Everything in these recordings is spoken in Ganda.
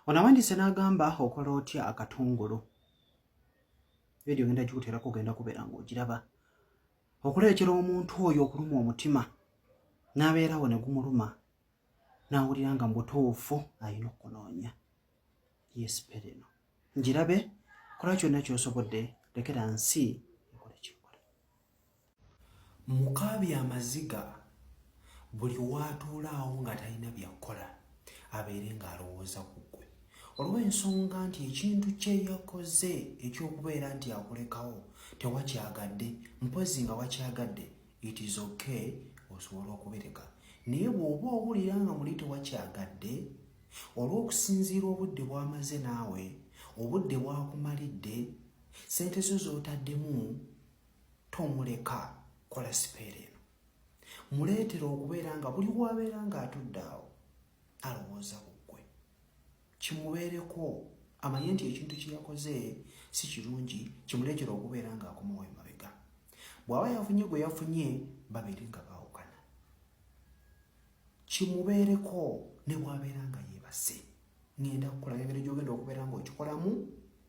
ono awandiise n'agamba okola otya akatungulu vidiyo genda gikuteerako ogenda kubeera ng'ogiraba okuleetera omuntu oyo okuluma omutima n'abeerawo ne gumuluma n'awulira nga mu butuufu alina okunoonya yesipereno ngirabe kola kyonna kyosobodde lekera nsi mukaabya amaziga buli waatuulaawo nga talina byakukola abeere ng'alowooza ku ggwe olw'ensonga nti ekintu kye yakoze eky'okubeera nti akulekawo tewakyagadde mpozi nga wakyagadde it is okay osobola okubireka naye bw'oba owulira nga muli tewakyagadde olw'okusinziira obudde bwamaze naawe obudde bwakumalidde sente zo z'otaddemu tomuleka kola sipeera eno muleetera okubeera nga buli wabeera ng'atudde awo alowooza kuggwe kimubeereko amanye nti ekintu kyeyakoze si kirungi kimuleetera okubeera ng'akomawo emabega bw'aba yafunye gwe yafunye babeere nga baawukana kimubeereko ne bwabeera nga yeebase ngenda kukulaga engeri gyogenda okubeera ng'okikolamu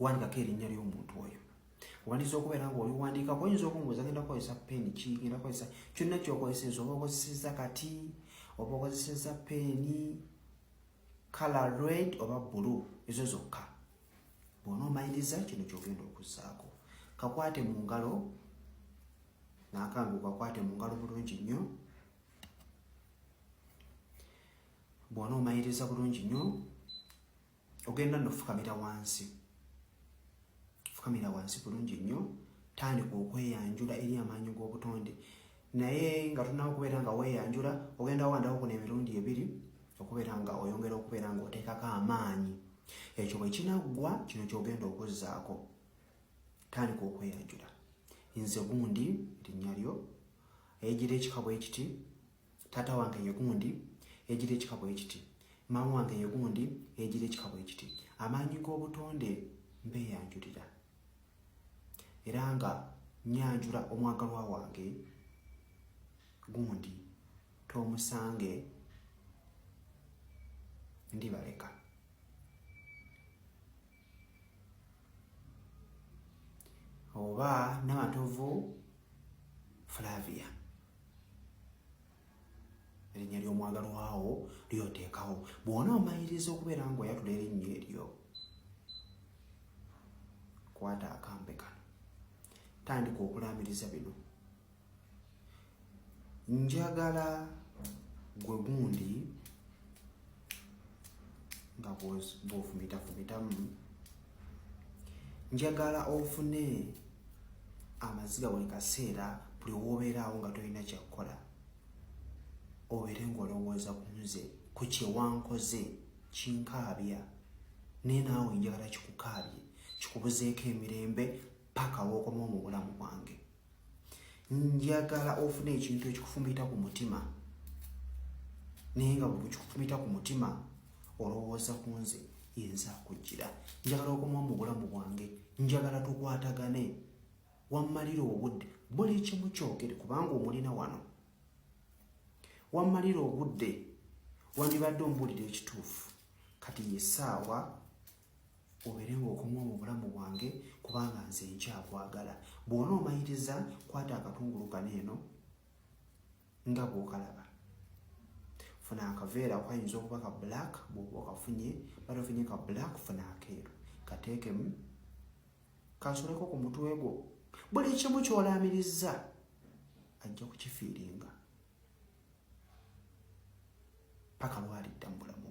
wandikako erinnya ly'omuntu oyo wandisa okubeera nga oli wandiikako oyinza okumbuuza genda kukozesa peeni ki genda kukozesa kyonna kyokozeseza oba okozeseza kati oba okozeseza peeni kala red oba bulu ezo zokka bwona omaliriza kino kyogenda okuzzaako kakwate mu ngalo nakambi kakwate mu ngalo bulungi nnyo bwona omaliriza bulungi nnyo ogenda no fukamira wansi fukamira wansi bulungi nnyo tandika okweyanjula eri amaanyi g'obutonde naye nga tunawo okubeera nga weyanjula ogenda wandawo kuna emirundi ebiri okubeera nga oyongera okubeera nga oteekako amaanyi ekyo bwe kinaggwa kino kyogenda okuzzaako tandika okweyanjula nze gundi linnya lyo egira ekikabwa ekiti taata wange ye gundi yejira ekika bwe kiti maama wange ye gundi yejira ekika bwe kiti amaanyi g'obutonde mbeeyanjulira era nga nyanjula omwagalwa wange gundi tomusange ndibaleka oba namatovu flavia erinnya ly'omwagalwawo lyoteekawo bwona omaliriza okubeera nga oyatula erinnya eryo kwata akambe kano tandika okulaamiriza bino njagala gwe gundi nga bwofumitafumitamu njagala ofune amaziga buli kaseera buli wobeeraawo nga tolina kyakukola obeere ngaolowooza ku nze ku kyewankoze kinkaabya naye naawe njagala kikukaabye kikubuzeeko emirembe paka wokoma mu bulamu bwange njagala ofuna ekintu ekikufumita ku mutima naye nga buli kikufumita ku mutima olowooza ku nze yenza akujjira njagala okomawo mu bulamu bwange njagala tukwatagane wammalira obudde buli kimu kyogere kubanga omulina wano wammalira obudde wandibadde ombulira ekituufu kati yesaawa obeerenga okumu mu bulamu bwange kubanga nze nkyakwagala bwona omayiriza kwata akatungulu kano eno nga bwokalaba funa akaveera kwayinza okuba ka black bwoba okafunye bali ofunye ka black funa akeeru kateekemu kansuleko ku mutwe gwo buli kimu kyolaamiriza ajja kukifiiringa paka lwalidda mu bulamu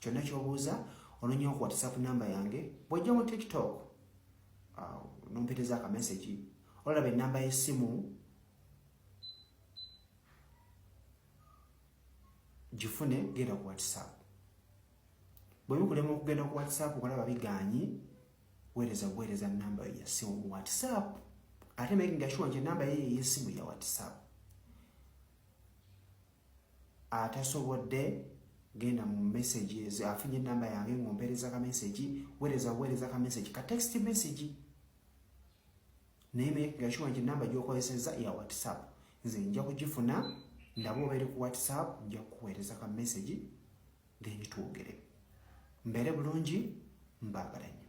kyonna kyobuuza ononyewo ku whatsapp number yange bwojja mu tiktok uh, nompeteza akamesagi olaba enamba yesimu gifune genda ku whatsapp bwebikulema okugenda ku whatsapp okalaba biganyi wereza buwereza namba yo yasimu mu whatsapp ate making sure nti enamba yeye yesimu ya whatsapp atasobodde genda mu messages afunye namba yange ng'ompeereza ka message weereza weereza ka message ka text message naye megashuwa nti namba gyokozesezza ya whatsapp nze nja kugifuna ndaba obeere ku whatsapp nja kukuweereza ka message then twogere mbeere bulungi mbaagala nnyo